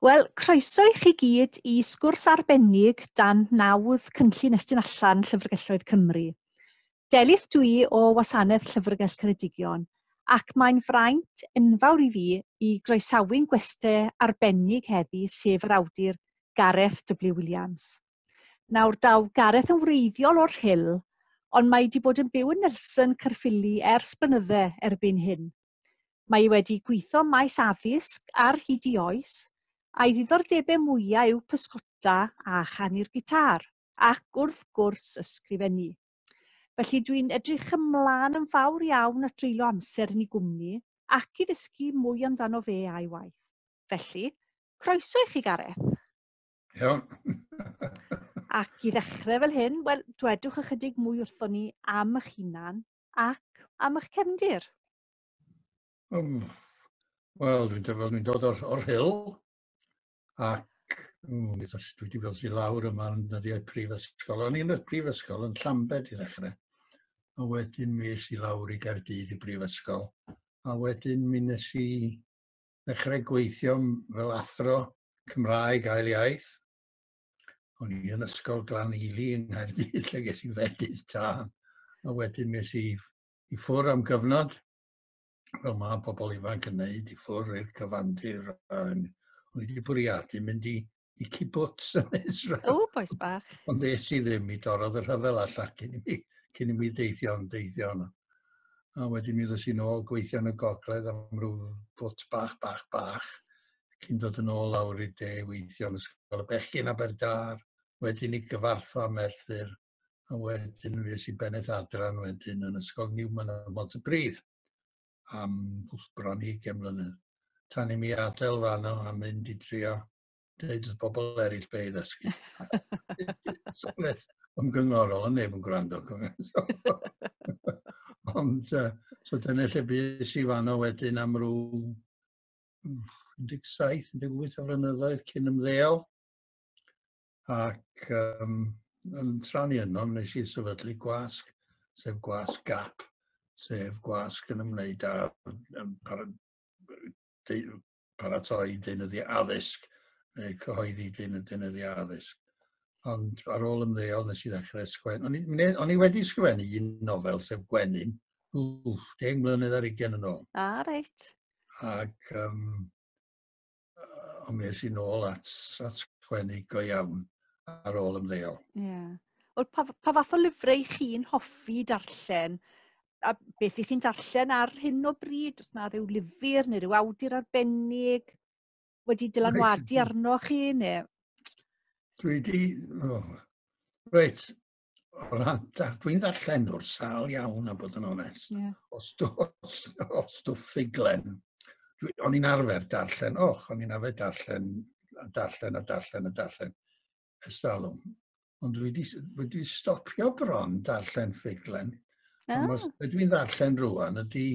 Wel, croeso i chi gyd i sgwrs arbennig dan nawdd Cynllun Estyn Allan Llyfrgelloedd Cymru. Delyth dwi o Wasanaeth Llyfrgell Ceredigion ac mae'n fraint enfawr i fi i groesawu'n gweste arbennig heddi sef yr awdur Gareth W Williams. Nawr daw Gareth yn wreiddiol o'r Rhyl ond mae wedi bod yn byw yn Nelson Caerffili ers blynydde erbyn hyn. Mae ei wedi gweithio maes addysg ar hyd i oes, a'i ddiddordebau mwyaf yw pysgota a chanu'r gitar. ac wrth gwrs ysgrifennu. Felly dwi'n edrych ymlaen yn fawr iawn at dreulio amser yn ei gwmni ac i ddysgu mwy amdano fe a'i waith. Felly, croeso i chi Gareth. Iawn. ac i ddechrau fel hyn, wel, dwedwch ychydig mwy wrthon ni am eich hunan ac am eich cefndir. Um, Wel, dwi'n dod o'r, or hill, ac mm, dwi wedi gweld i lawr yma yn dyddiau prifysgol. O'n i'n y prifysgol yn Llambed i ddechrau. A wedyn mi es i lawr i Gaerdydd i brifysgol. A wedyn mi nes i ddechrau gweithio fel athro Cymraeg ail iaith. O'n i yn ysgol Glan Ely yng Nghaerdydd lle ges i fedydd tân. A wedyn mi es i i ffwr am gyfnod fel mae pobl ifanc yn neud i ffwrdd i'r cyfandir. O'n i wedi bwriadu mynd i, i kibbutz yn Israel. O, boes bach. Ond es i ddim i dorodd y rhyfel allan cyn i mi, cyn i mi deithio yn deithio yno. A wedyn mi ddys i'n ôl gweithio yn y gogledd am rhyw bwt bach, bach, bach. Cyn dod yn ôl lawr i de weithio yn ysgol y bechgyn Aberdâr. Wedyn i gyfarthfa Merthyr a wedyn mi es i bennaeth adran wedyn yn Ysgol Newman ym Mhontypridd am bron i ugain mlynedd. Tan i mi adael fanno a mynd i drio deud wrth bobl eraill be' i ddysgu. So beth yn gyngorol a neb yn gwrando. Ond uh, so dyna lle bys i fanno wedyn am rw 17, 18 o flynyddoedd cyn ymddeol. Ac um, yn tran i yno, nes i sefydlu gwasg, sef gwasg GAP, sef gwasg yn ymwneud â um, para, de, paratoi deunyddiau addysg, neu cyhoeddi deunyddiau addysg. Ond ar ôl ymddeol nes i ddechrau sgwen. O'n i, o'n i wedi sgwennu un nofel, sef Gwenyn, wff, deng mlynedd ar ugen yn ôl. A, ah, reit. Ac um, ond mi es i'n ôl at, at sgwennu go iawn ar ôl ymddeol. Ie. Yeah. Wel, pa, pa fath o lyfrau chi'n hoffi darllen? A beth i chi'n darllen ar hyn o bryd? Os na rhyw lyfr neu rhyw awdur arbennig wedi dylanwadu arno chi? Neu... Dwi wedi... Oh. Reit, o ran, dwi'n ddarllen o'r sal iawn a bod yn onest. Yeah. O, stwff, o stwff ffuglen. O'n i'n arfer darllen, och, o'n i'n arfer darllen, a darllen, a darllen, a darllen. Estalwm. Ond dwi wedi, wedi stopio bron darllen ffuglen. Oh. Ond os ah. dwi'n ddarllen rwan, ydy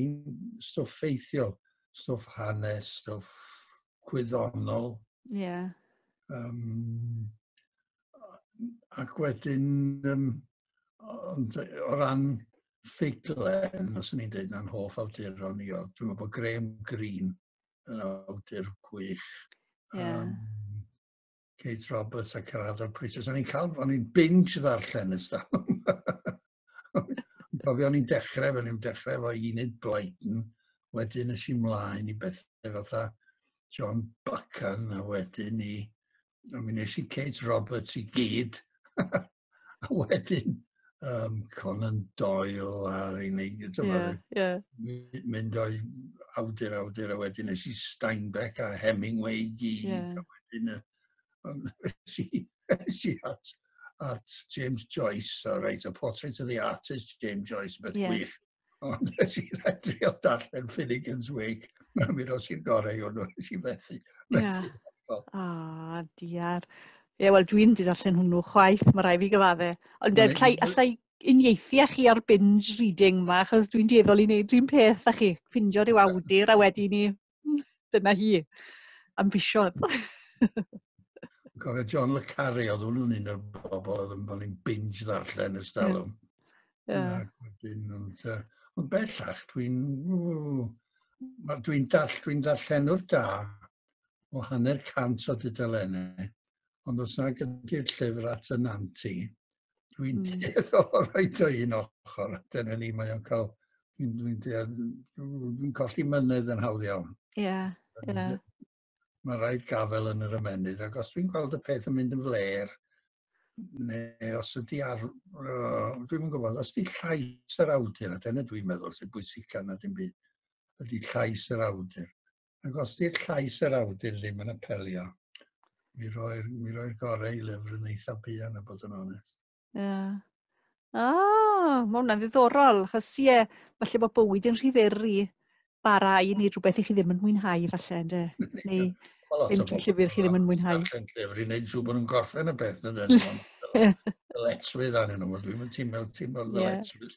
stwff ffeithiol, stwff hanes, stwff gwyddonol. Ie. Yeah. Um, ac wedyn, um, ond o ran ffuglen, os ni'n dweud na'n hoff awduron ni, oedd, dwi'n meddwl bod Graham Greene yn awdur gwych. Yeah. Um, Kate Roberts a Cerado Pritis. O'n i'n cael, o'n i'n binge ddarllen ys da. Gofio o'n i'n dechrau, o'n i'n dechrau efo Enid Blyton, wedyn ys i mlaen i bethau fatha John Buchan, a wedyn i mi wnes i Kate Roberts i gyd, a wedyn um, Conan Doyle ar ei wneud, yeah, yeah. mynd o'i awdur awdur, a wedyn nes i Steinbeck a Hemingway i gyd, yeah. a wedyn y, nes i at, at James Joyce, a reit, a Portrait of the Artist, James Joyce, beth yeah. gwych. Ond nes i rhaid drio darllen Finnegan's Wake. Mae'n mynd os i'r gorau o'n nhw, nes i fethu. Ie. O, oh, diar. Ie, wel, dwi'n di ddarllen hwnnw chwaith, mae rai fi gyfadde. Ond well, allai, allai unieithu â chi ar binge reading yma, achos dwi'n dieddol i wneud un peth â chi. Ffindio rhyw awdur a wedi ni Dyna hi. Am fisiodd. Cofio John Le Carre, oedd hwnnw'n un o'r bobl oedd yn bod ni'n binge ddarllen ys dalwm. Yeah. Ond, uh, ond bellach, dwi'n... Dwi'n dall, dwi darllenwr da o hanner cant o dudalennau, ond os na gyda'r llyfr at y nanti, Dwi'n mm. dueddol o roed o un ochr, dyna ni, mae o'n cael, dwi'n dwi dwi colli mynydd yn hawdd iawn. Ie, yeah, ie. Yeah. Mae rhaid gafel yn yr ymenydd, ac os dwi'n gweld y peth yn mynd yn fler, neu os ydy ar... Uh, dwi'n yn gwybod, os ydy llais yr awdur, a dyna dwi'n meddwl sy'n bwysig gan na dim byd, ydy llais yr awdur. Ac os di'r llais yr awdur ddim yn apelio, mi roi'r roi gorau i lyfr yn eitha buan a bod yn onest. Ie. Yeah. Ah, mae hwnna'n ddiddorol, achos ie, yeah, falle bod bywyd yn rhiferi bara i wneud rhywbeth i chi ddim yn mwynhau, falle, ynddo? Neu ddim trwy llyfr chi ddim yn mwynhau. Darllen llyfr i wneud siw bod nhw'n gorffen y beth, na dyn nhw'n dyletswydd arnyn nhw. Dwi'n mynd ti'n meddwl ti'n meddwl dyletswydd.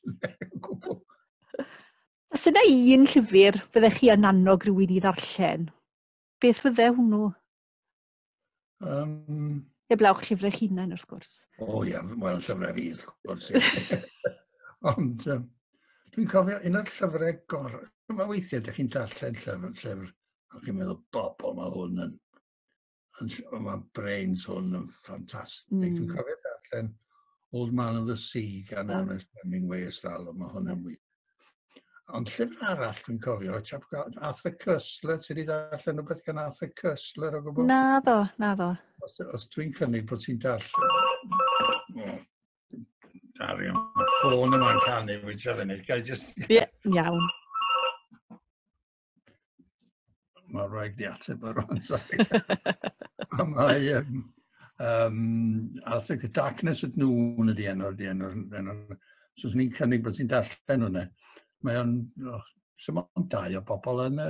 Os yna un llyfr fyddech chi yn annog rhywun i ddarllen, beth fydde hwnnw? Um, Eblawch llyfrau chi hunain, wrth gwrs. O oh, ia, yeah, wel, llyfrau fi, wrth gwrs. Ond um, dwi'n cofio un o'r llyfrau gor... Mae weithiau, ydych chi'n darllen llyfr, llyfr, a chi'n meddwl, bobl, mae hwn yn Ond mae Brains hwn yn ffantastig. Mm. Dwi'n cofio darllen Old Man of the Sea gan oh. Ernest Hemingway ys dal, mae hwn yn wych. Ond llyfr arall dwi'n cofio, Arthur Cussler, ti wedi darllen rhywbeth gan Arthur Cussler o gwbl? Na ddo, na ddo. Os, os dwi'n cynnig bod ti'n darllen... Oh, Darion, mae ffôn yma'n canu, wyt ti'n fyny, gael jyst... Ie, iawn. Mae'n rhaid di ateb ar o'n sori. Mae um, um, Arthur y Darkness at Noon ydi enw'r di enw'r enw. So, ni'n cynnig bod ti'n darllen hwnna. Mae o'n, oh, sy'n o'n dau o bobl yn y,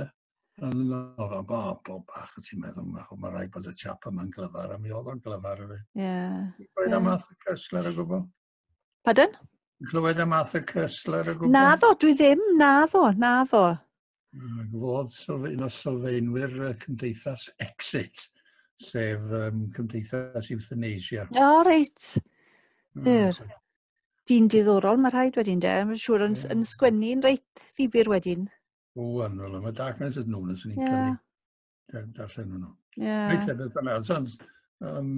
yn y nofel, bobl bach y ti'n meddwl, mae ma rhaid bod y chap yma'n glyfar, a mi oedd o'n glyfar. Ie. Yeah. Rhaid am Arthur Kessler o gwbl. Pardon? Clywed am Arthur Koestler o gwbl? Na ddo, dwi ddim, na ddo, na ddo. Gwodd sylf, un o sylfaenwyr y cymdeithas Exit, sef um, cymdeithas euthanasia. O, oh, reit. Yr. Mm. Dyn diddorol, mae rhaid wedyn de. Mae'n siŵr yn, yn sgwennu'n reit ddifur wedyn. O, anwyl, mae Darkness is known as an yeah. darllen hwnnw. Yeah. Reit, e, beth bynnag. Ond, um,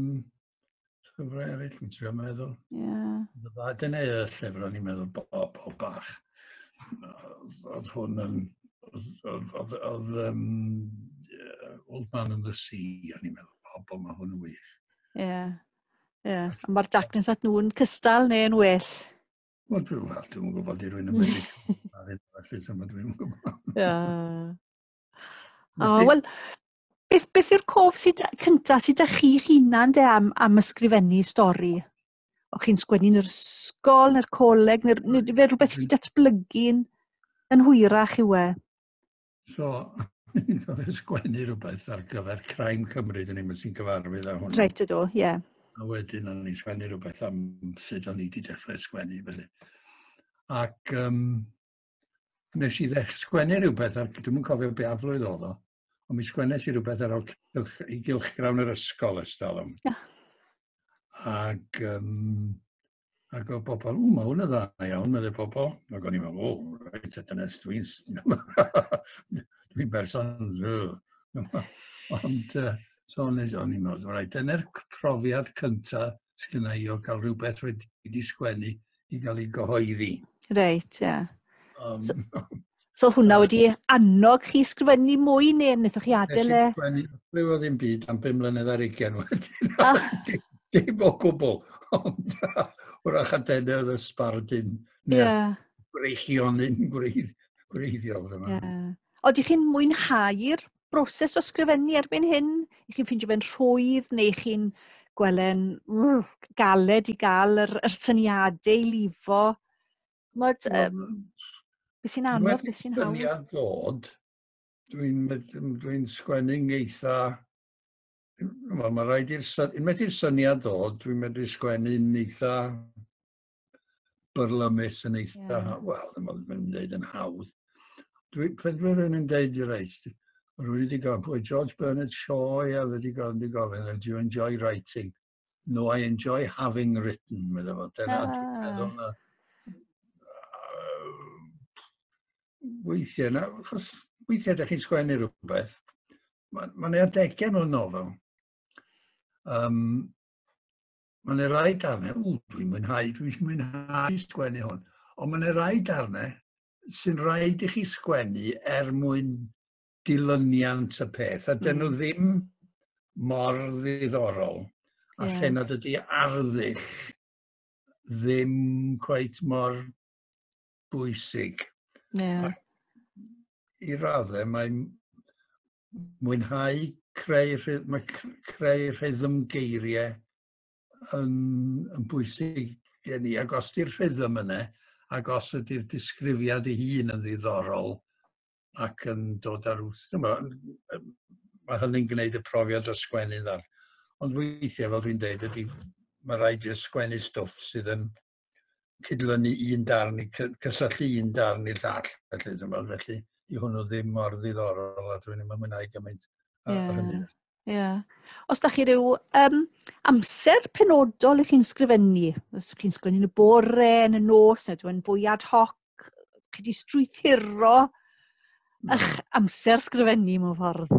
llyfrau eraill, dwi'n trio meddwl. Yeah. Dyna y llyfr o'n i'n meddwl bob, bob bach. Oedd hwn yn... Oedd um, Old Man and the Sea, o'n i'n meddwl, bob, bob mae hwn yn wych. Ie. Yeah. Yeah. Mae'r darkness at nhw'n cystal neu'n well? Wel, dwi'n gwybod, dwi'n gwybod i rwy'n ymwneud. Ar hyn o felly, dwi'n gwybod. Ie. O, oh, wel, beth, beth yw'r cof sydd cynta sydd â chi hunan de am, am ysgrifennu stori? O chi'n sgwennu'n yr ysgol neu'r coleg neu'r neu fe rhywbeth sydd wedi datblygu'n yn hwyrach i we? So, ni'n gofio sgwennu rhywbeth ar gyfer Crime Cymru, dyn ni'n sy'n cyfarwydd â hwn. Reit ydw, ie. Yeah. A wedyn o'n i'n sgwennu rhywbeth am sut o'n i wedi dechrau sgwennu, felly. Ac um, Nes i ddech sgwennu rhywbeth, ar, dwi'n yn cofio be aflwydd oedd o, ond mi sgwennes i rhywbeth ar ôl cylch, i gylchgrawn yr ysgol ys talwm. Yeah. Ac, um, ac oedd pobl, o, mae hwn yn dda iawn, meddwl pobl. Ac o'n i'n meddwl, o, reit, a dyna dwi'n... dwi'n berson... Ond, uh, so o'n i'n meddwl, reit, dyna'r profiad cyntaf sydd gen i o gael rhywbeth wedi sgwennu i gael ei gyhoeddi. Reit, ie. Yeah. Um, so, so hwnna uh, wedi annog chi sgrifennu mwy neu wnaethoch chi adael e? Rwy o ddim byd am 5 mlynedd ar ugen wedyn. Ah. Dim o gwbl. Ond wrach a denu oedd y sbardun. Yeah. Breichion yn gwreiddiol. Yeah. Oedych chi'n mwynhau'r broses o sgrifennu erbyn hyn? I chi'n ffeindio fe'n rhwydd neu chi'n gwelen mm, galed i gael yr, yr syniadau i lifo? Mod, um, be sy'n anodd, be sy'n hawdd? Syniad dod, dwi'n dwi sgwennu'n eitha... Wel, mae rhaid i'r syniad dod, dwi'n medru sgwennu'n eitha byrlymus yn eitha, yeah. wel, ddim ond yn dweud yn hawdd. Dwi, pryd dwi'n rhywun yn dweud i reit, rwy wedi gofyn, pwy George Bernard Shaw, ia, wedi gofyn, wedi gofyn, do you enjoy writing? No, I enjoy having written, meddwl fo. Dyna, ah. dwi'n meddwl na. Weithiau, na, chos weithiau ydych chi'n sgwennu rhywbeth, mae'n ma adegau mewn nofel. Um, Mae yna rai darnau, ww, dwi'n mwynhau, dwi'n mwynhau sgwennu hwn. Ond mae yna rai darnau sy'n rhaid i chi sgwennu er mwyn dilyniant y peth, a dyn nhw mm. ddim mor ddiddorol, a yeah. lle nad ydy arddull ddim cweit mor bwysig. Yeah. I raddau, mae mwynhau creu, mae creu rhythm geiriau yn, yn bwysig gen i. Ac os di'r rhythm yna, ac os ydy'r disgrifiad ei hun yn ddiddorol ac yn dod ar wrth, mae, mae hynny'n gwneud y profiad o sgwennu ddar. Ond weithiau, fel dwi'n dweud, ydy, mae rhaid i'r sgwennu stwff sydd yn cydlynu un darn, i cysylltu un darn i'r llall, felly, tymod, felly i hwnnw ddim mor ddiddorol a dwi'n ddim yn mwynhau gymaint ar yeah. hynny. Yeah. Os da chi rhyw um, amser penodol i chi'n sgrifennu, os chi'n sgrifennu yn y bore, yn y nos, neu dwi'n fwy ad hoc, chi di strwythuro eich amser sgrifennu mewn ffordd?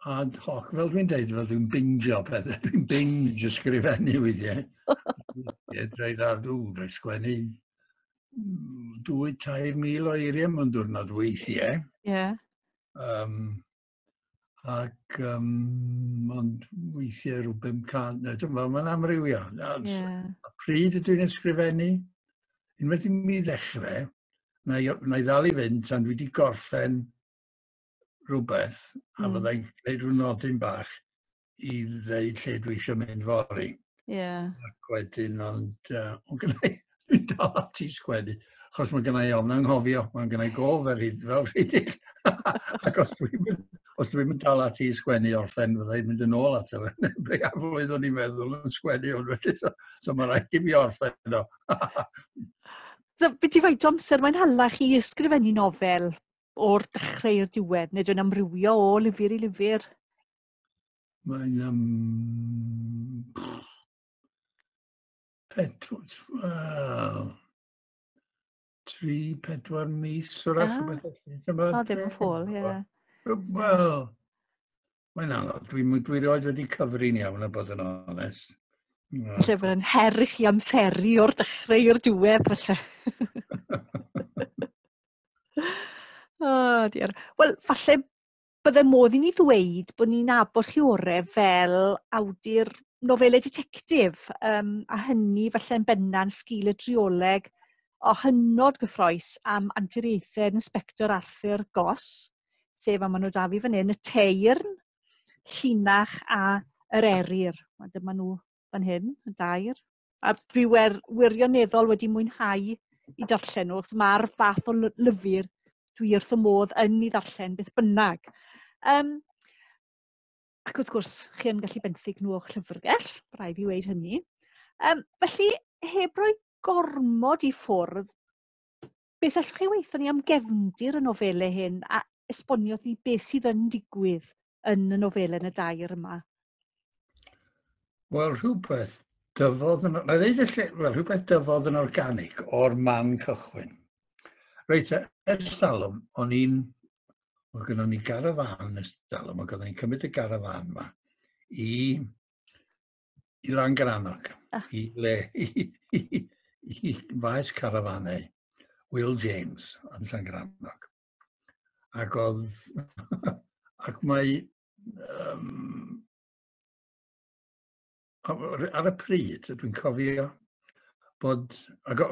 ad hoc, fel dwi'n dweud, fel dwi'n bingio pethau, dwi'n binge ysgrifennu weithiau. Rhaid ar dwi'n rhaid sgwennu dwy, tair mil o eiriau mewn diwrnod weithiau. Ie. Yeah. Um, ac um, ond weithiau rhyw 500, mae'n amrywio. Yeah. A pryd ydw i'n ysgrifennu, unwaith i mi ddechrau, na i, na i ddal i fynd tan dwi wedi gorffen rhywbeth a mm. fyddai'n gwneud rhyw nodyn bach i ddeud lle dwi eisiau mynd fori. Yeah. Ac wedyn, ond uh, o'n gynnau, dwi'n dal ati sgwennu, achos mae gynnau ofn anghofio, mae'n gynnau gof ar hyd fel rhedeg. Ac os dwi'n mynd, os dwi'n mynd dal ati sgwennu o'r ffen, fyddai'n mynd yn ôl ato fe. Breiaflwydd o'n i'n meddwl yn sgwennu o'n wedi, so, so mae'n rhaid i mi orffen o. so, beth i faint amser mae'n hallach i ysgrifennu nofel? o'r dechrau i'r diwedd, neu dwi'n amrywio o lyfr i lyfr? Mae'n am... Pedwyd, wel... Tri, pedwar mis, o'r ah. rhywbeth felly. O, ddim yn ffôl, ie. Wel, Mae'n anodd. Dwi, dwi roed wedi cyfrin iawn a bod yn onest. No. Lle bod yn her i chi amseru o'r dechrau i'r diwedd, felly. o, oh, diar. Wel, falle bydde modd i ni ddweud bod ni'n abod chi orau fel awdur nofelau detectif, um, a hynny falle'n benna'n sgil y drioleg o hynod gyffroes am anturiaethau yn Inspector Arthur Goss, sef, a maen nhw da fi fan hyn, y teirn, llinach a yr eryr. A dyma nhw fan hyn, y dair. A dwi wer, wirioneddol wedi mwynhau i darllen nhw, achos mae'r fath o lyfr dwi wrth y modd yn ei ddarllen beth bynnag. Um, ac wrth gwrs, chi yn gallu benthyg nhw o'ch llyfrgell, rhaid i wneud hynny. Um, felly, heb roi gormod i ffwrdd, Beth allwch chi weithio ni am gefndir y nofelau hyn a esbonio ni beth sydd yn digwydd yn y nofelau yn y dair yma? Wel, rhywbeth dyfodd yn... Na ddeud y lle... Wel, rhywbeth dyfodd yn organig o'r man cychwyn. Reit, e, ers talwm, o'n i'n... Mae gynnon ni garafan ers talwm, ac oeddwn i'n cymryd y garafan yma i I Langrannog, ah. i le, i, i, i faes carafanau Will James yn Langrannog. Ac oedd, ac mae, um, ar y pryd, dwi'n cofio, bod, ac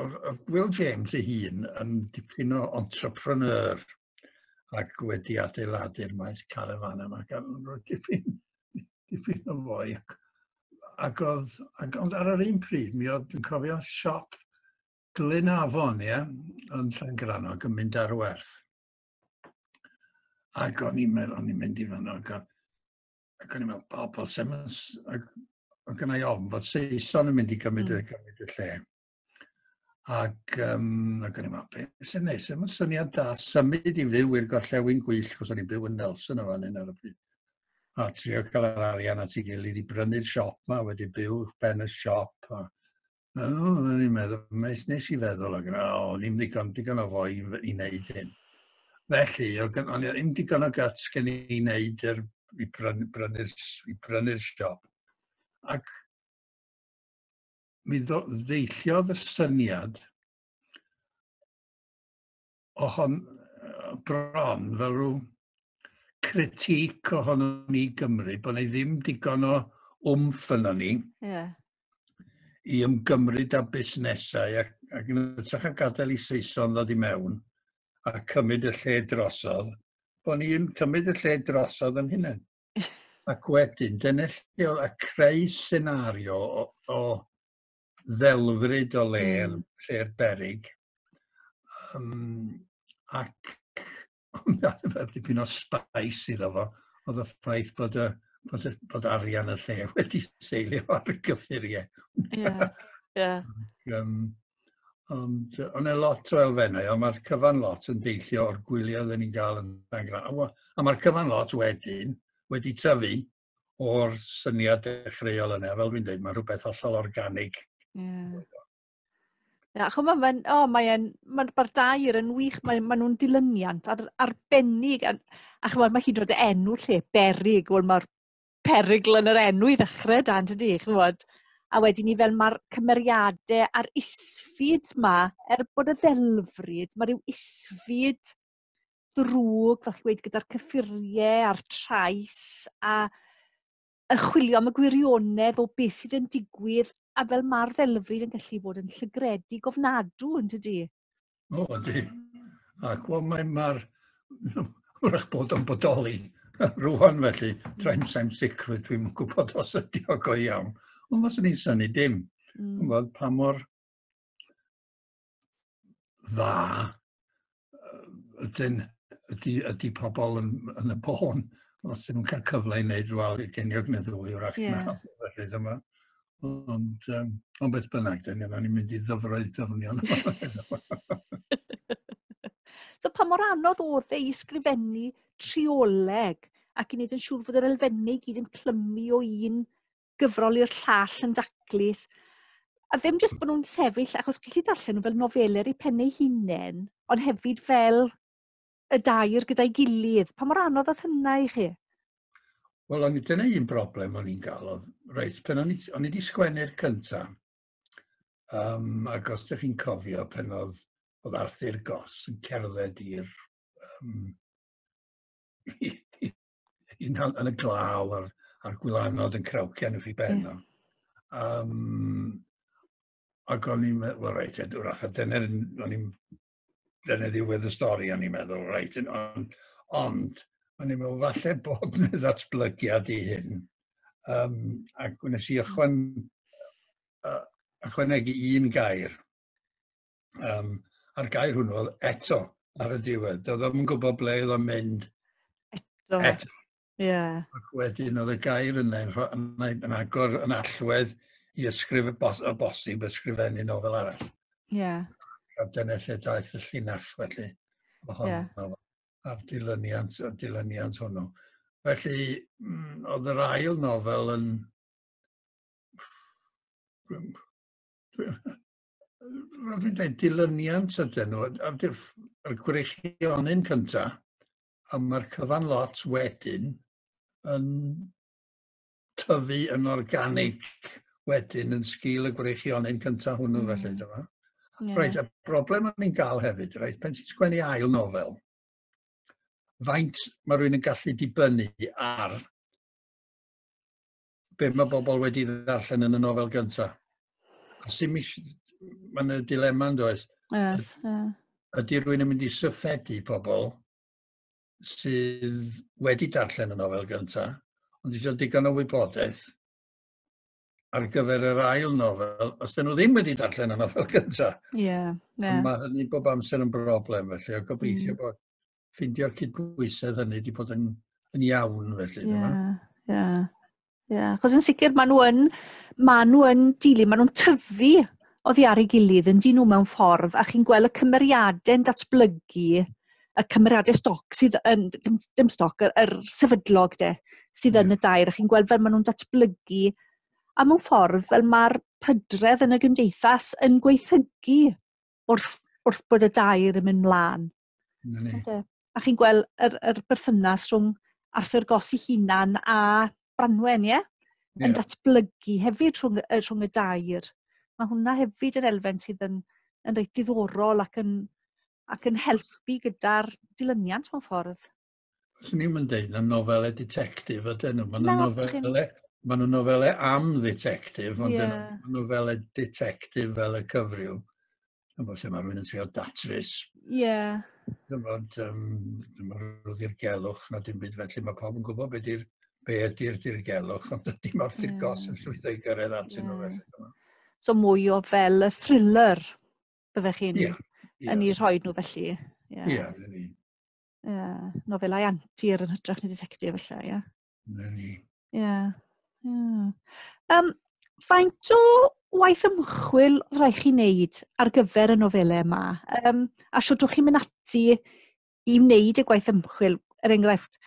Will James ei hun yn dipyn o entrepreneur, ac wedi adeiladu'r maes carafan yma gan roedd dipyn, dipyn o fwy. Ac, ac oedd, ac, ond ar yr un pryd, mi oedd, yn cofio, siop Glyn Afon, ie, yn Llangrannog yn mynd ar werth. Ac o'n i'n meddwl, o'n i'n mynd i fanno, ac, ac o'n i'n meddwl, pobl, sef, ac, ac yna i ofn bod Saeson yn mynd i gymryd, mm. gymryd y lle. Ac, um, ac o'n i'n meddwl, beth sy'n neis, yma'n syniad da, symud i fyw i'r gorllewin gwyll, cos o'n i'n byw yn Nelson o fan hyn ar y pryd. A trio cael yr arian at ei gilydd i brynu'r siop ma, wedi byw i'ch ben y siop. A, a o'n i'n meddwl, nes, nes i feddwl, ac yna, o, ni'n ddigon, digon o fwy i wneud hyn. Felly, o'n i ddim digon o guts gen i wneud yr, i brynu'r brynu siop. Ac mi ddeilliodd y syniad o hon bron fel rhyw critic ohonom ni Gymru, bod ni ddim digon o wmff yno ni. Yeah. I ymgymryd â busnesau ac, ac yn ytrach a gadael i Saeson ddod i mewn a cymryd y lle drosodd, bod ni'n cymryd y lle drosodd yn hynny. Ac wedyn, dyna lle oedd a creu senario o, o ddelfryd o le yn mm. lle'r berig. Um, ac oedd dipyn o spais iddo fo, oedd y ffaith bod, y, bod, y, bod arian y lle wedi seilio ar y gyffuriau. Ie, ie. Ond o'n e lot o elfennau, a mae'r cyfan lot yn deillio o'r gwyliau oedden ni'n gael yn dan gra. A mae'r cyfan lot wedyn wedi tyfu o'r syniad dechreuol yna. Fel dwi'n dweud, mae'n rhywbeth hollol organig. Yeah. Ia, chymod, mae'n, o, oh, mae'n, mae'n, mae'r dair yn wych, mae'n, mae nhw'n dilyniant ar, arbennig, a, a chymod, mae hyd yn oed enw lle, berig, wel, mae'r perygl yn yr enw i ddechrau dan, tydi, chymod? A wedyn ni fel mae'r cymeriadau a'r isfyd ma, er bod y ddelfryd, mae rhyw isfyd drwg, fel chi wedi gyda'r cyffuriau a'r trais, a yn chwilio am y gwirionedd o beth sydd yn digwydd, a fel mae'r ddelfryd yn gallu bod yn llygredig ofnadw, yn tydi? O, ydy. Ac wel, mae mae'r... wrach bod o'n bodoli rwan felly, tra'n saim sicr, dwi'n gwybod os ydy o go iawn. Ond os ni'n syni dim, mm. gwybod pa mor dda ydyn, ydy, ydy pobl yn, yn y bôn os ydyn nhw'n cael cyfle i wneud rhywbeth i geniog neu ddwy o'r ac yeah. na. Felly dyma, Ond, um, ond beth bynnag, dyn ni'n ni mynd i ddyfroedd dyfnion. so pa mor anodd oedd e i sgrifennu trioleg ac i wneud yn siŵr fod yr elfennau i gyd yn clymu o un gyfrol i'r llall yn daclus. A ddim jyst bod nhw'n sefyll, achos gallu darllen nhw fel nofelau i pennau hunain, ond hefyd fel y dair gyda'i gilydd. Pa mor anodd oedd hynna i chi? Wel, o'n i dyna un broblem o'n i'n gael oedd, reit, pen o'n i, o'n i wedi sgwennu'r cynta, um, ac os ydych chi'n cofio pen oedd, oedd Arthur Goss yn cerdded i'r um, yn, yn y glaw a'r, ar gwylanod yn crawcian wrth i ben o. Um, ac o'n i'n meddwl, well, reit, edwrach, a dyna o'n i'n dyna ddiwedd y stori, o'n i'n meddwl, reit, ond, ond o'n i'n meddwl, falle bod yna ddatblygiad i hyn. Um, ac wnes i ychwan, uh, ychwanegu un gair. Um, a'r gair hwnnw oedd eto ar y diwedd. Doedd o'n gwybod ble oedd o'n mynd eto. eto. Ie. Ac wedyn oedd y gair yna yn, rho- yn, yn, yn agor yn allwedd i ysgrif y bos, y bosib ysgrifennu nofel arall. Ie. A dyna lle daeth y llinach felly ohono yeah. a'r dilyniant, y dilyniant hwnnw. Felly, mm, oedd yr ail nofel yn... Roedd yn dweud dilyniant ydyn nhw, a'r gwreichionyn cyntaf, a mae'r cyfan lot wedyn yn tyfu yn organig wedyn yn sgil y gwreichionyn cyntaf hwnnw mm. felly, dyma. Yeah. Reit, y broblem o'n i'n gael hefyd, reit, pen ti'n sgwennu ail nofel, faint mae rhywun yn gallu dibynnu ar be mae bobl wedi ddarllen yn y nofel gynta. A sy'n mis... Mae'n y dilema yn does. Yes, yeah. Ydy rwy'n yn mynd i syffedu pobl sydd wedi darllen y nofel gynta, ond eisiau digon o wybodaeth ar gyfer yr ail nofel, os dyn nhw ddim wedi darllen y nofel gynta. Ie, yeah, yeah. Mae hynny bob amser yn broblem, felly, o gobeithio mm. bod ffeindio'r cydbwysedd hynny wedi bod yn, yn iawn felly. Ie, ie. Ie, chos yn sicr maen nhw yn, maen nhw yn dili, maen nhw'n tyfu oddi ar ei gilydd yn dyn nhw mewn ffordd, a chi'n gweld y cymeriadau yn datblygu, y cymeriadau stoc sydd yn, dim, dim stoc, yr, yr sefydlog de, sydd yn y dair, a chi'n gweld fel maen nhw'n datblygu, a mewn ffordd fel mae'r pydredd yn y gymdeithas yn gweithygu wrth, wrth bod y dair yn mynd mlaen. A chi'n gweld yr, yr berthynas rhwng Arthur Goss i hunan a Branwen, ie? Yeah? Yeah. Yn datblygu hefyd rhwng, rhwng y dair. Mae hwnna hefyd yn elfen sydd yn, yn reit diddorol ac yn, ac yn helpu gyda'r dilyniant mewn ffordd. Swn i'm yn deud na nofelau detectif ydyn nhw. Maen nhw'n Na, dach chi'n- nofelau, maen nhw'n nofelau am ddetectif, ond Ie. yeah. nhw'n nofelau detectif fel y cyfryw. Yn bod lle mae rhywun yn trio datrys, Ie. yn bod um, rhyw ddirgelwch na dim byd felly. Mae pawb yn gwybod beth ydy'r be ydy'r dirgelwch, ond ydy mae'r tirgos yn llwyddo i gyrraedd atyn nhw Ie. felly. So mwy o fel y thriller byddech chi'n Ie. yn ei rhoi nhw felly. Ie, yn union. uh, nofelau antur yn hytrach na detective felly, ie. Yeah. Na ni. Ie. Yeah. Yeah. Um, faint o waith ymchwil rhaid chi wneud ar gyfer y nofelau yma? Um, a siwdwch chi'n mynd ati i wneud y gwaith ymchwil, er enghraifft,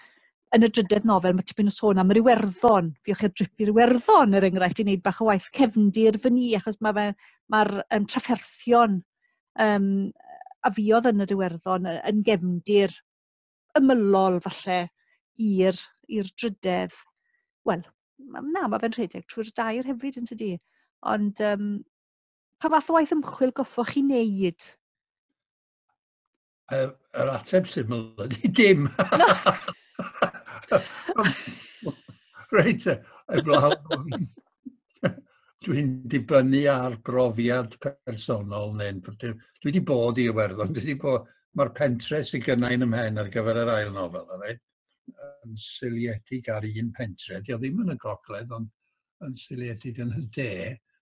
yn y drydedd nofel, mae tipyn o sôn am yr Iwerddon. Fiwch i'r drip i'r Iwerddon, er enghraifft, i wneud bach o waith cefndir fy ni, achos mae'r mae, mae um, trafferthion yym a fuodd yn yr Iwerddon yy yn gefndir ymylol falle i'r i'r drydedd wel ma' na ma' fe'n rhedeg trwy'r dair hefyd yn tydi? Ond yym pa fath o waith ymchwil goffoch chi neud? Yr, yr ateb syml ydy dim. Reit, eblaw. Dwi'n dibynnu ar brofiad personol neu'n... Dwi wedi bod i Iwerddon, dwi wedi bod... Mae'r pentre sydd gynna i'n ymhen ar gyfer yr ail nofel, yn seiliedig ar un pentre. Dio ddim yn y gogledd, ond yn seiliedig yn y de,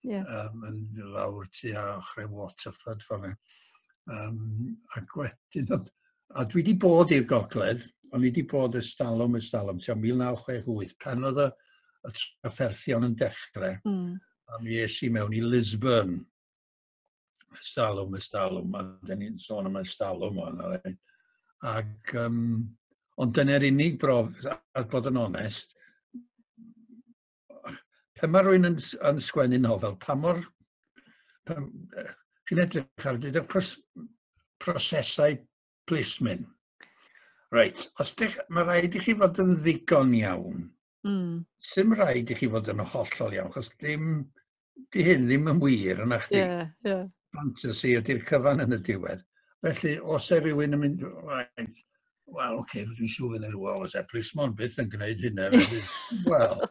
yeah. um, yn lawr tu a ochrau Waterford fan hyn. Um, ac wedyn, a dwi wedi bod i'r gogledd, ond i wedi bod y stalwm y stalwm, ti'n 1968, pan oedd y, y trafferthion yn dechrau, mm. a mi es i mewn i Lisbon, Stalwm, y stalwm, a dyn ni'n sôn am y stalwm o'n ar ein. Ac, um, ond dyna'r unig brof, a bod yn onest, pan mae rwy'n yn, yn sgwennu nofel, pa mor... Chi'n edrych ar dyd y pros, prosesau plismyn. Reit, os dych, mae rhaid i chi fod yn ddigon iawn Mm. Sym rhaid i chi fod yn hollol iawn, chos dim, di hyn ddim yn wir yna chdi. Yeah, yeah. Fantasy ydy'r cyfan yn y diwedd. Felly, os e rhywun yn mynd, right, wel, oce, okay, dwi'n siŵr yn yr ôl, os e plismon byth yn gwneud hynna, wel,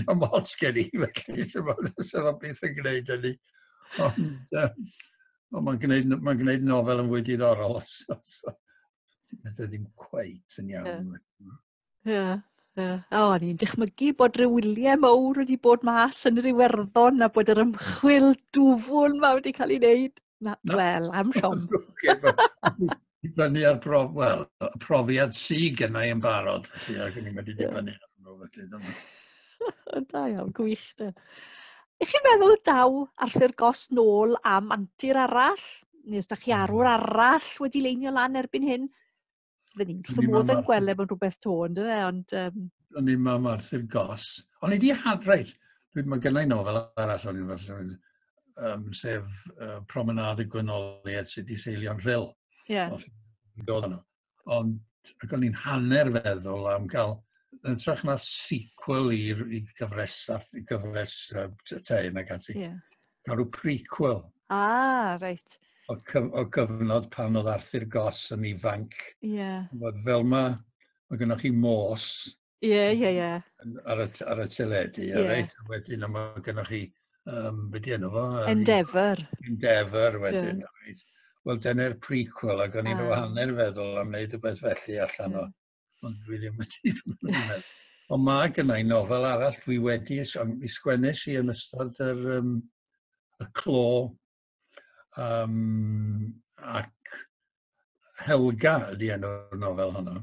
na mots gen i, felly, sef o'n byth yn gwneud hynny. Ond, um, ond mae'n gwneud, ma gwneud nofel yn fwy diddorol, os, os, os, ddim cweit yn iawn. Yeah. Ie, ie. O, o'n i'n dychmygu bod rhyw wyliau mawr wedi bod mas yn yr Iwerddon a bod yr ymchwil dwfwn ma wedi cael ei wneud. Na, no. wel, am siom. Dibynnu ar prof, well, profiad sy'n gennau yn barod, felly, ac o'n i'n wedi dibynnu ar nhw, felly, dyma. Da iawn, gwych, da. Ych chi'n meddwl daw Arthur Gos nôl am antur arall? Neu os da chi arwr hmm. arall wedi leinio lan erbyn hyn? Fydden ni'n wrth modd yn gweld efo'n rhywbeth to, ynddo fe, ond... Um... O'n i'n mam Arthur Goss. O'n i di had, reit, mae gennau nofel arall o'n i'n fel, um, sef uh, Promenade y Gwynoliaid sydd wedi seilio'n rhyl. Ie. Yeah. Ond, ac o'n i'n hanner feddwl am gael yn trach na sequel i'r gyfres, gyfres uh, te yn ac ati. Yeah. Mae rhyw prequel. Ah, reit. O, cyf o gyfnod pan oedd Arthur Goss yn ifanc. Ie. Yeah. Fel mae, mae gennych chi mos. Ie, ie, ie. Ar y, ar y teledu, yeah. reit. Wedyn mae gennych chi, um, beth di enw fo? Endeavour. Endeavour wedyn, yeah. reit. Wel, dyna'r prequel, ac o'n i'n ah. hanner feddwl am wneud rhywbeth felly allan o. Ond dwi ddim wedi meddwl. Ond mae gennau nofel arall dwi wedi, mi sgwennes i yn ystod yr, um, y clo, um, ac Helga ydy enw'r nofel honno.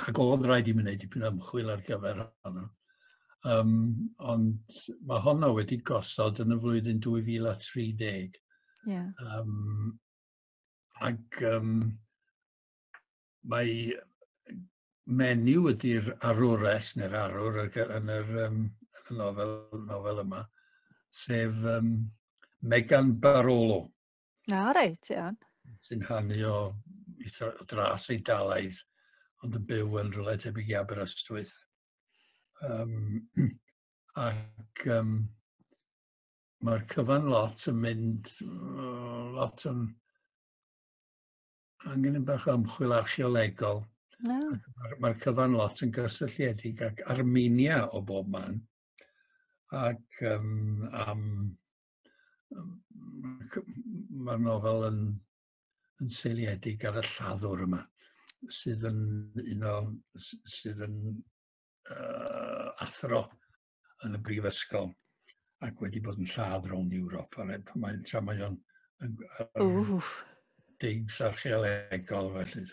Ac oedd rhaid i mi wneud dipyn ymchwil ar gyfer honno. Um, ond mae honno wedi gosod yn y flwyddyn 2030. Yeah. Um, ac um, mae menyw ydy'r arwres neu'r arwr yn yr um, yn y nofel, nofel yma, sef um, Megan Barolo. Na, reit, iawn. Sy'n hannu o, o dras ei dalaeth, ond yn byw yn rhywle tebyg i Aberystwyth. Um, ac um, mae'r cyfan lot yn mynd, lot yn angen yn bach o ymchwil archeolegol. No. Mae'r ma cyfan lot yn gysylltiedig ac Armenia o bob man. Ac um, am, um, mae'r nofel yn, yn seiliedig ar y lladdwr yma, sydd yn un o, sydd yn uh, athro yn y brifysgol ac wedi bod yn lladd rownd Ewrop. A mae, mae, tra mae o'n digs archeolegol felly.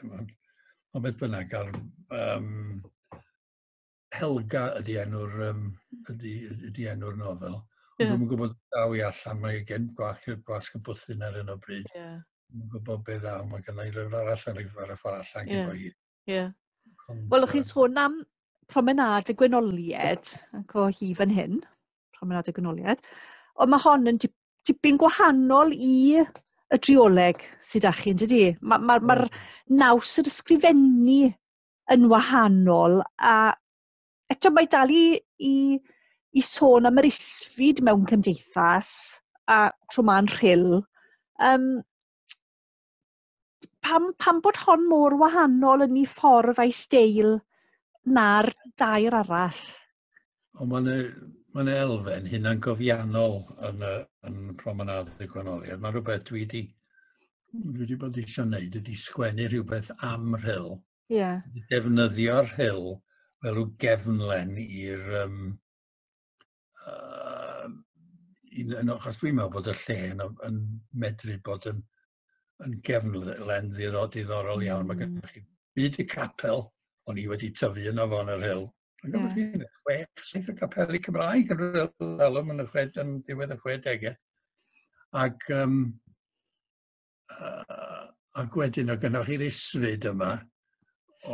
Ond beth bynnag, ar, um, Helga ydy enw'r um, ydy, ydy enw'r nofel. Ond yeah. dwi'n gwybod daw i allan, mae gen gwasg, gwasg y bwthyn ar hyn o bryd. Yeah. Dwi'n gwybod beth ddaw, mae gennau lyfr arall ar y ffordd allan yeah. gyda hi. Ie. Yeah. Wel, chi'n sôn am promenad y gwenolied, ac o hi fan hyn, promenad y gwenolied, ond mae hon yn tipyn gwahanol i y drioleg sydd â chi, yn dydy? Mae'r ma, ma, ma naws yr ysgrifennu yn wahanol, a eto mae dal i, i, i sôn am yr isfyd mewn cymdeithas, a tro ma'n rhyl. Um, pam, pam bod hon mor wahanol yn ei ffordd a'i steil na'r dair arall? O, mae'n ma elfen hynna'n gofiannol yn, yn promenad y gwanoliad. Mae'n rhywbeth dwi wedi dwi wedi bod eisiau gwneud ydy sgwennu rhywbeth am rhyl. Ie. Yeah. Defnyddio'r rhyl fel rhyw gefnlen i'r... Um, uh, un, achos dwi'n meddwl bod y lle yn, yn medru bod yn yn gefn len ddiro diddorol iawn. Mm. Mae gennych hmm. chi byd y capel, o'n i wedi tyfu yno fo yn yr hil. Mae'n gwybod chi, chwech, saith o capeli Cymraeg yn rhywbeth alwm yn y chwed, yn diwedd y chwedegau. Ac, um, uh, ac wedyn o gynnwch chi'r isfyd yma,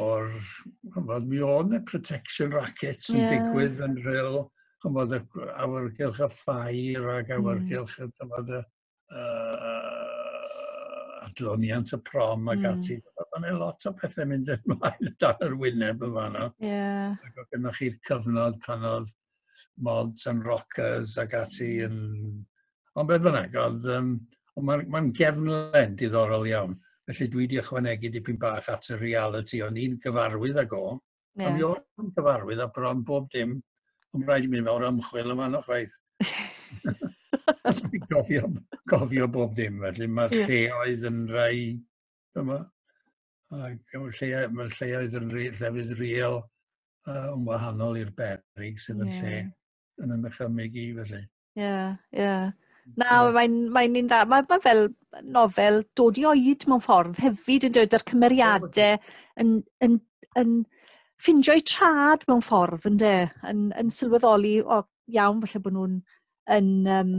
o'r, chymod, mi o'n y protection rackets yn yeah. digwydd yn rhyl, chymod, awyrgylch y ffair ac awyrgylch mm. y, chymod, y, uh, adloniant y prom ac mm. ati. Mae yna lot o pethau mynd yn ymlaen dan yr wyneb yn fanno. Yeah. Ac oedd gennych chi'r cyfnod pan oedd mods and rockers ac ati yn... Ond beth bynnag, oedd... Um, ond mae'n ma gefnlen diddorol iawn. Felly dwi wedi ychwanegu dipyn bach at y reality o'n i'n gyfarwydd ag o. Yeah. Ond mi oedd yn cyfarwydd a bron bob dim. Ond rhaid i mi mewn ymchwil yma na chwaith. gofio, gofio bob dim, felly mae'r yeah. lleoedd yn rhai yma. Ac mae'r lleoedd, mae lleoedd yn rhi, llefydd riel uh, yn wahanol i'r berig sydd yn yeah. lle yn yn ychymyg i, felly. Ie, ie. Na, mae'n mae un dda. Mae ma fel nofel dod i oed mewn ffordd hefyd yn dweud yr cymeriadau yn, yn, yn ffindio'u trad mewn ffordd yn de, yn, yn sylweddoli, o iawn, felly bod nhw'n yn um,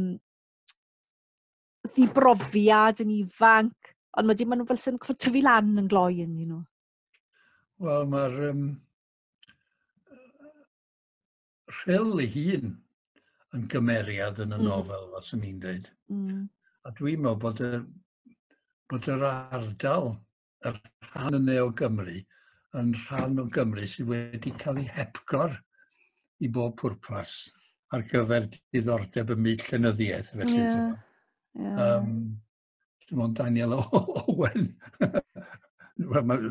ddibrofiad yn ifanc, ond wedyn maen nhw fel sy'n tyfu lan yn gloi yn nhw. Wel, mae'r um, rhyl ei hun yn gymeriad yn y mm. nofel, os o'n i'n dweud. Mm. A dwi'n meddwl bod, y, bod yr ardal, yr rhan yna o Gymru, yn rhan o Gymru sydd wedi cael ei hepgor i bob pwrpas ar gyfer diddordeb y myd llenyddiaeth. Felly, yeah. Yeah. Um, Dim ond Daniel Owen. Wel, mae'n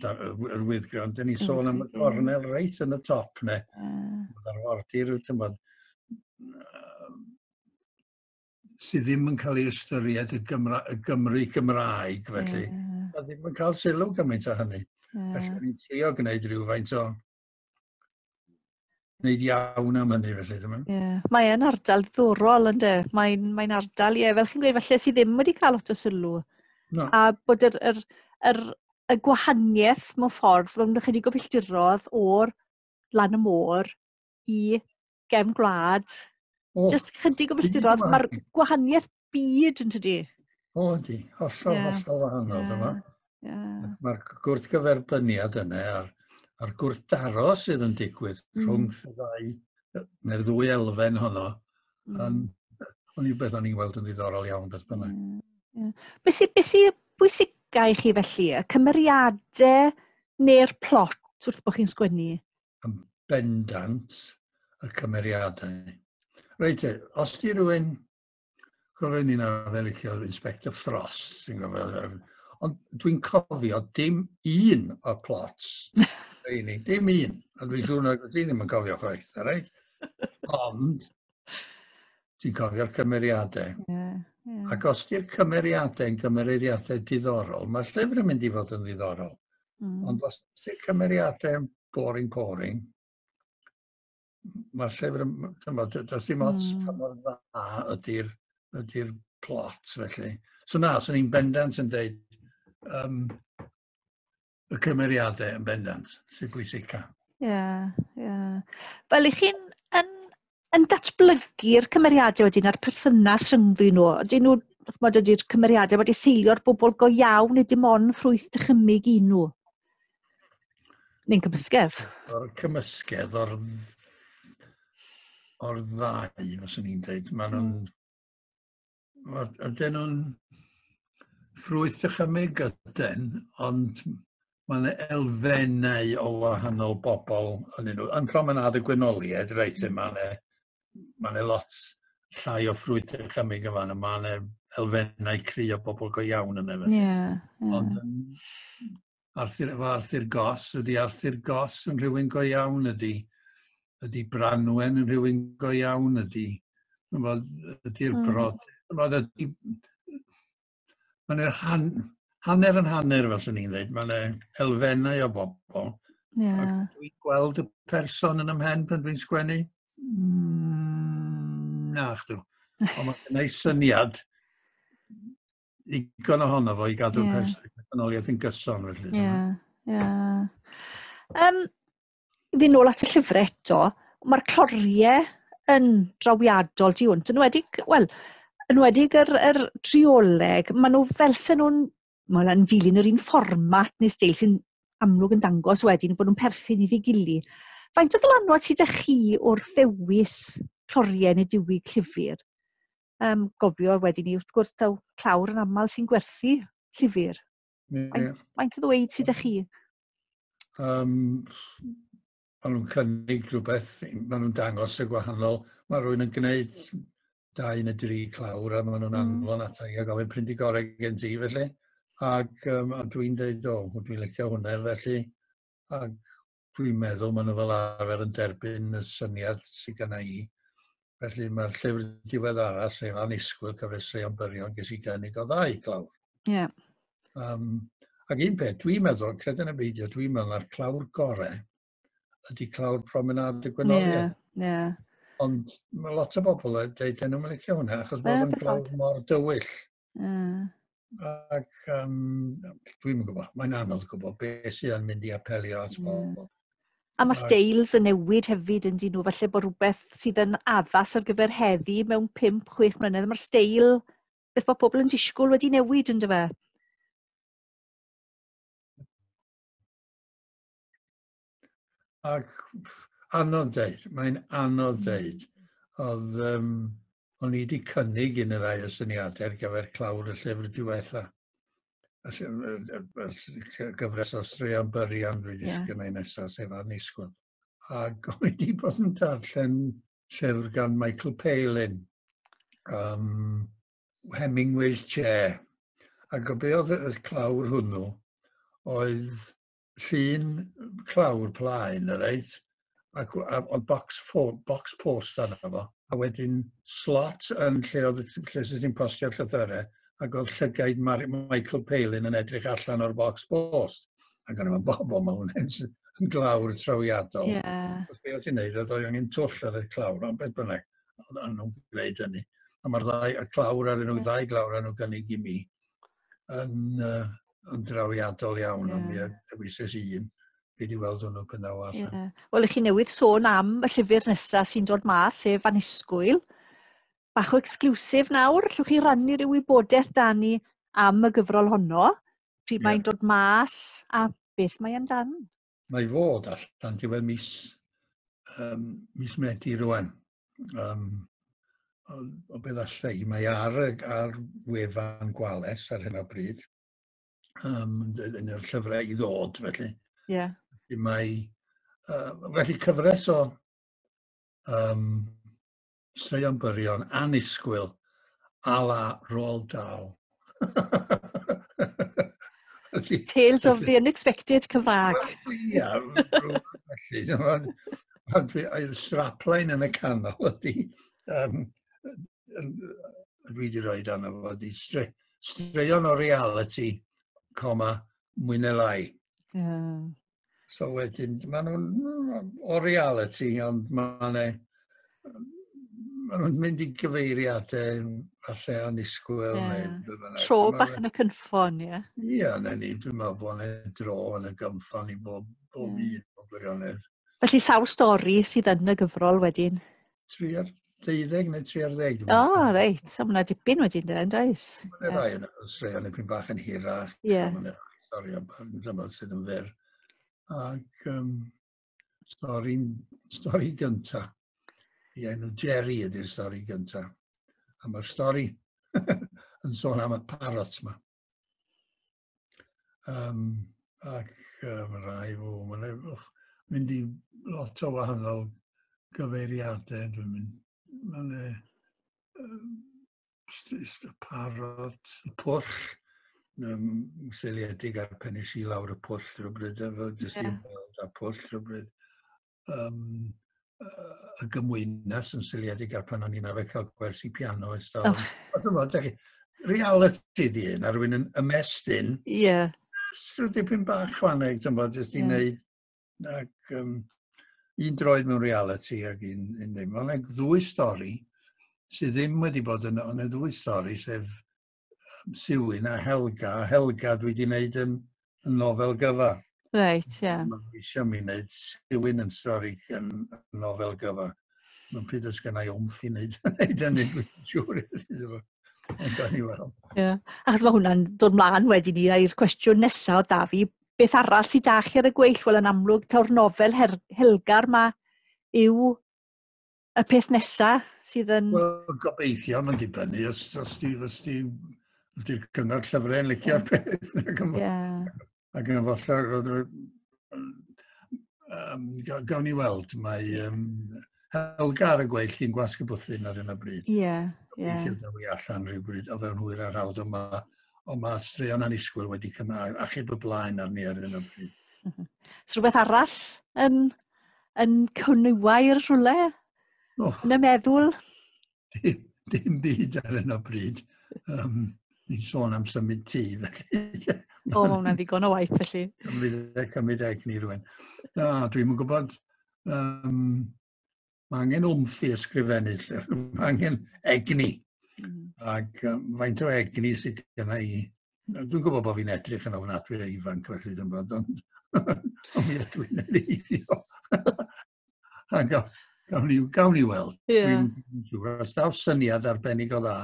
yr wyddgrau, ond dyn ni sôn am y gornel reit yn y top, ne? Mae'r ah. wardir, ti'n bod, sydd ddim yn cael ei ystyried y, Gymra, y Gymru Gymraeg, felly. Yeah. A ddim yn cael sylw gymaint o hynny. Yeah. Felly, ni'n trio gwneud rhywfaint o wneud iawn am hynny felly. Dyma. Yeah. Mae yn ardal ddorol ynddo. Mae'n mae ardal, ie, yeah, fel chi'n gweud, felly sydd ddim wedi cael lot o sylw. No. A bod yr, yr, yr, y gwahaniaeth mewn ffordd, mewn ychydig o filltirodd o'r lan y môr i gefn gwlad. Oh. Just chydig o filltirodd, mae'r gwahaniaeth byd yn tydi? O, di. Hollol, yeah. hollol wahanol, yeah. dyma. Yeah. Mae'r gwrthgyferbyniad yna a'r, a'r gwrthdaro sydd yn digwydd mm. rhwng y ddau, neu'r ddwy elfen honno, mm. yn, ond yw beth o'n i'n gweld yn ddiddorol iawn beth bynnag. Mm. Yeah. Be sy'n be sy bwysicau i chi felly? Y cymeriadau neu'r plot wrth bod chi'n sgwennu? Yn bendant y cymeriadau. Reit, os di rhywun Cofio ni na fe licio'r Inspector Frost, ti'n gofio. Ond dwi'n cofio dim un o'r plots. Reini, dim un. A dwi'n siŵr na ti ddim yn cofio chwaith, a reit? Ond, ti'n cofio'r cymeriadau. Yeah, yeah. Ac os di'r cymeriadau yn gymeriadau diddorol, mae'r llyfr yn mynd i fod yn ddiddorol. Mm. Ond os di'r cymeriadau yn boring, boring, mae'r llyfr yn, chymod, does dim ots mm. pa mor dda ydy'r ydy plot, felly. So na, so ni'n bendant yn dweud um, y cymeriadau yn bendant sy'n bwysica. Ie, yeah, ie. Yeah. Wel, i chi'n yn, yn datblygu'r cymeriadau wedyn a'r perthynas rhyngddyn nhw, ydyn nhw, chymod, ydy'r cymeriadau wedi seilio'r bobl go iawn, neu dim ond ffrwyth dychymig i nhw? Neu'n cymysgedd? O'r cymysgedd, o'r, or ddau, os o'n i'n dweud. Mae nhw'n... Hmm. Ydyn nhw'n ffrwyth dychymyg ydyn, ond mae yna elfennau o wahanol bobl yn nhw. Yn promenad y gwynoliaid, reit, hmm. mae yna ma ne lot llai o ffrwyth dychymyg yma, yna. Mae yna elfennau cry o bobl go iawn yn efo. Yeah, yeah. Ond yn Arthur, efo Arthur Goss, ydy Arthur Goss yn rhywun go iawn, ydy, ydy Branwen yn rhywun go iawn, ydy, ydy'r hmm. brod, yfod, ydy, mae'n yr han, hanner yn hanner, fel sy'n ni'n dweud, mae'n elfennau o bobl. Yeah. Dwi'n gweld y person yn ymhen pan dwi'n sgwennu? Mm, na, chdw. Ond mae'n syniad ddigon ohono fo i gadw yeah. personoliaeth yn gyson. Felly, ie, ie. Um, Fy nôl at y llyfr eto, mae'r cloriau yn drawiadol di hwnt, yn wedi, wel, yn wedi yr, yr trioleg, maen nhw fel sy'n nhw'n, maen nhw'n dilyn yr un fformat neu steil sy'n amlwg yn dangos wedyn bod nhw'n perthyn i ddigili. Faint o ddylanwad sydd â chi wrth ddewis cloriau neu diwy clyfur? um, gofio wedyn ni, wrth gwrs, taw clawr yn aml sy'n gwerthu llyfr. Yeah. Mae'n cael dweud sydd chi? Um, maen nhw'n cynnig rhywbeth, maen nhw'n dangos y gwahanol. Mae rhywun yn gwneud dau neu dri clawr a maen nhw'n mm. anfon ata i a gofyn print i gorau gen ti felly. Ac um, a dwi'n dweud, o, dwi'n licio hwnna felly. Ac dwi'n meddwl maen nhw fel arfer yn derbyn y syniad sydd gen i. Felly mae'r llyfr diweddara, sef Anisgwyl Cyfresreion Byrion, ges i gynnig o ddau glawr. Ie. Yeah. Um, ac un peth, dwi'n meddwl, credyn y beidio, dwi'n meddwl na'r clawr gorau ydy clawr promenad y gwenoliaid. Yeah, yeah. Ond mae lot o bobl yn dweud, dyn nhw'n licio hwnna, achos bod yn clawr mor dywyll. Uh. Ac um, dwi'n gwybod, mae'n anodd gwybod beth sy'n mynd i apelio at bobl. Mm. A mae styles yn newid hefyd yn dyn nhw, felly bod rhywbeth sydd yn addas ar gyfer heddi mewn 5-6 mlynedd, mae'r steil, beth bod pobl yn disgwyl wedi newid yn dyfa. Ac anodd dweud, mae'n anodd hmm. dweud. Oedd, um, o'n i wedi cynnig un y ddau o syniadau ar gyfer clawr y llyfr diwetha. Gyfres o straeon byrion dwi wedi yeah. sgynnau nesaf, sef anusgwyl. Ac o'n i wedi bod yn darllen llyfr gan Michael Palin, um, Hemingway's Chair. Ac o be oedd y clawr hwnnw oedd llun clawr plaen, y reit, ac, a, a box, for, box post arno fo, a wedyn slot yn lle oedd lle sydd ti'n postio'r llythyrau, ac oedd llygaid Mar Michael Palin yn edrych allan o'r box post. Ac o'n i'n bobl, mae hwn yn glawr trawiadol. Yeah. Os beth ti'n neud, oedd o'n i'n twll ar y clawr, ond beth bynnag, oedd nhw'n gwneud hynny. A mae'r ddau, y clawr ar nhw, ddau glawr ar nhw'n gynnig i mi. yn, uh, yn drawiadol iawn, yeah. ond mi ddewises i un. Fi wedi weld hwnnw gyda o allan. Yeah. Wel, ych chi newydd sôn am y llyfr nesaf sy'n dod mas, sef Anisgwyl. Bach o exclusif nawr, llwch chi rannu rhyw wybodaeth da ni am y gyfrol honno, pryd yeah. mae'n dod mas a beth mae amdano. mae fod allan diwedd mis, um, mis Medi rwan. Um, o, o beth allai, mae ar, ar wefan gwales ar hyn o bryd, um, yn yr llyfrau i ddod felly. Ie. Yeah. Mae, uh, felly cyfres o um, Llywio'n byrion, annisgwyl, a la Roald Dahl. Tales of the unexpected Cymraeg. Ia, felly, ond i'r strapline yn y canol ydy, um, dwi wedi rhoi dan efo, ydy stre, straeon o reality, coma, mwy neu lai. Yeah. So wedyn, maen nhw'n o reality, ond maen nhw'n mynd i gyfeiriadau falle anusgwyl. Yeah. Neu, Tro bach yn y cynffon, ie. Yeah. Ie, yeah, na ni, dwi'n meddwl bod yna dro yn y gynffon i bob, bob yeah. un o gwirionedd. Felly sawl stori sydd yn y gyfrol wedyn? tri ar deuddeg neu tri ar ddeg. O, oh, reit. So, mae'n dipyn wedi dweud, yn does? Mae'n rhai yn y straeon yn pyn bach yn hirach. Ie. Yeah. Mae'n rhai stori am dymor sydd yn fyr. Ac um, stori, stori gynta. I enw Jerry ydy'r stori gynta. A mae'r stori yn sôn am y parot yma. Um, ac uh, mae rhai fo, mae'n rhaid mynd i lot o wahanol gyfeiriadau. Dwi'n mynd, mae'n e, um, parot, pwll, um, seiliedig ar penis i lawr y pwll rhywbryd, efo jyst yeah. i'n gweld a pwll rhywbryd. um, y gymwynas yn seiliedig ar pan o'n i'n arfer cael gwersi piano ers dal. Oh. Ond yma, da chi, reality di hyn, ar wyn yn ymestyn. Ie. Yeah. Rwy'n dipyn bach chwaneg, ti'n bod, jyst i yeah. wneud, ac um, un droed mewn reality ac un, un ddim. Ond e'n ddwy stori sydd ddim wedi bod yn, ond e'n ddwy stori sef Siwyn a Helga. A Helga dwi wedi wneud yn, yn nofel gyfa. Reit, ie. Yeah. Mae eisiau mi wneud Siwyn yn stori yn, yn nofel gyfa. Mae'n pryd os gennau omff i wneud, wneud hynny, dwi'n siŵr. Gawn ni weld. Yeah. Achos mae hwnna'n dod mlaen wedyn ni i'r cwestiwn nesaf o Dafi. Beth arall sydd da chi ar y gweill? Wel, yn amlwg, taw'r nofel her Helgar mae yw y peth nesa sydd yn... Wel, gobeithio, mae'n dibynnu os, os di, os di, os di'r cyngor llyfrau yn licio'r peth. Ac yn ac yn falle, um, gawn ni weld, mae um, Helga ar y gweill chi'n gwasg y bwthyn ar hyn o bryd. Ie, yeah, ie. Yeah. Gobeithio daw i allan rhywbryd o fewn hwyr ar hawdd, ond mae, ond mae straeon anisgwyl wedi cymryd achub y blaen arni ar hyn o bryd. Ys rhywbeth arall yn yn cwniwair rhywle? Oh. Yn y meddwl? Dim, dim byd ar hyn o bryd. Um, ni'n sôn am symud tŷ, felly. o, mae hwnna'n ddigon o waith, felly. Cymryd e, cymryd e ni rwy'n. Da, dwi'n gwybod, um, mae angen wmff i ysgrifennu, mae angen egni. Mm. Ac um, faint o egni sydd gyda i Dwi'n gwybod bod fi'n edrych yn ofnadwy a ifanc felly ddim bod, ond ond mi ydw i'n eiddio. a gawn, gawn, ni, gawn ni weld. Yeah. Dwi'n siŵr, os daw syniad arbennig o dda.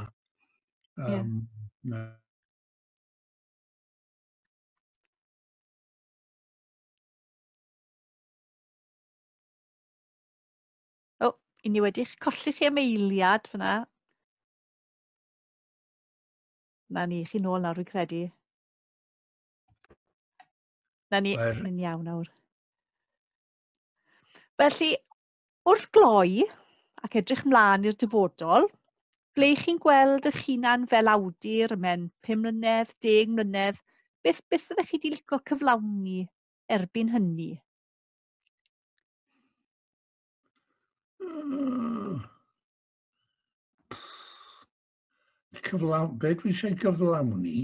Um, yeah. na. O, i ni wedi'ch colli chi am eiliad fyna. Na ni, chi nôl nawr, fi'n credu. Na ni, Mae'r... ni'n iawn nawr. Felly, wrth gloi ac edrych mlaen i'r dyfodol, ble chi'n gweld eich hunan fel awdur y mewn 5 mlynedd, 10 mlynedd, beth, beth fyddech chi wedi licio cyflawni erbyn hynny? Hmm. cyflawn, be dwi eisiau gyflawni,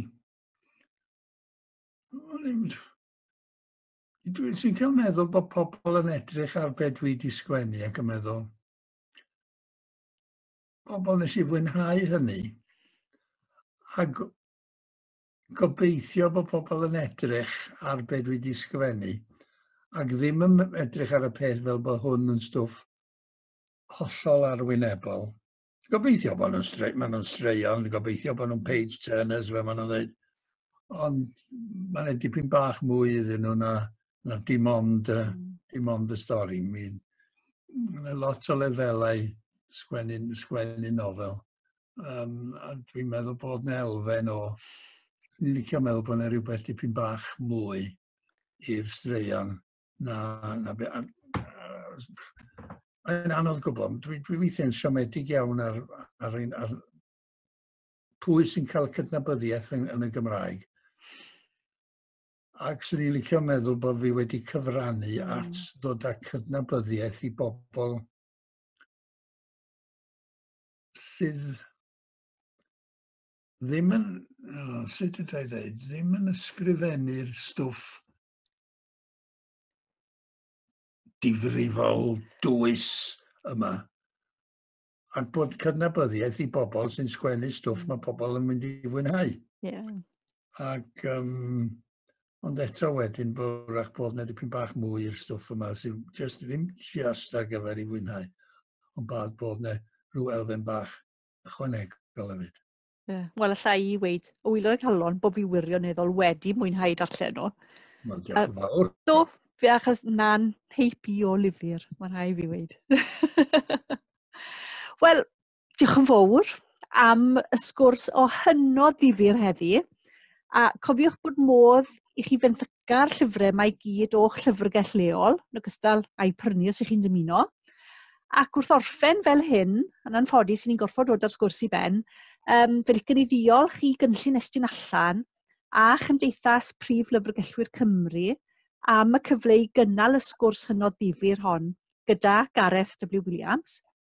dwi eisiau cael meddwl bod pobl yn edrych ar be dwi wedi sgwennu ac yn meddwl, pobl nes i fwynhau hynny, a gobeithio bod pobl yn edrych ar be dwi wedi sgwennu, ac ddim yn edrych ar y peth fel bod hwn yn stwff hollol arwynebol, Gobeithio bod nhw'n stre, maen nhw'n straeon, gobeithio bod nhw'n page turners fe maen nhw'n dweud. Ond mae'n edrych dipyn bach mwy iddyn nhw na, na dim ond, uh, dim ond y stori. Mae'n ma lot o lefelau sgwennu'n sgwennu nofel. Um, a dwi'n meddwl bod na elfen o, dwi'n licio meddwl bod na rhywbeth dipyn bach mwy i'r straeon Na, na, be, a, yn anodd gwybod. Dwi, dwi weithiau'n siomedig iawn ar, ar, ar, ar pwy sy'n cael cydnabyddiaeth yn, yn y Gymraeg. Ac swn i'n licio meddwl bod fi wedi cyfrannu mm. at ddod â cydnabyddiaeth i bobl sydd ddim yn, oh, sut ydw i ddweud, ddim yn ysgrifennu'r stwff difrifol dwys yma ac bod cydnabyddiaeth i bobl sy'n sgwennu stwff mm. mae pobl yn mynd i fwynhau. Yeah. Ac, um, ond eto wedyn, bwrach bod na dipyn bach mwy i'r stwff yma sy'n just, ddim just ar gyfer i fwynhau, ond bad bod na rhyw elfen bach ychwanegol hefyd. Ie. Wel, alla i weud, o wylo y calon, bod fi wirioneddol wedi mwynhau darllen nhw. Wel, diolch yn fawr. Do, fi achos na'n heip i o lyfr, mae'n rhai fi weid. Wel, diolch yn fawr am y sgwrs o hynod ddifur heddi. A cofiwch bod modd i chi fynd gair llyfrau mae gyd o'ch llyfrgell leol, yn ogystal â'i prynu os ych chi'n dymuno. Ac wrth orffen fel hyn, yn anffodus, ni'n gorfod dod ar sgwrs i ben, um, fe licen i ddiolch i gynllun estyn allan a Chymdeithas Prif Lyfrgellwyr Cymru am y cyfle i gynnal y sgwrs hynod ddifyr hon gyda Gareth W Williams.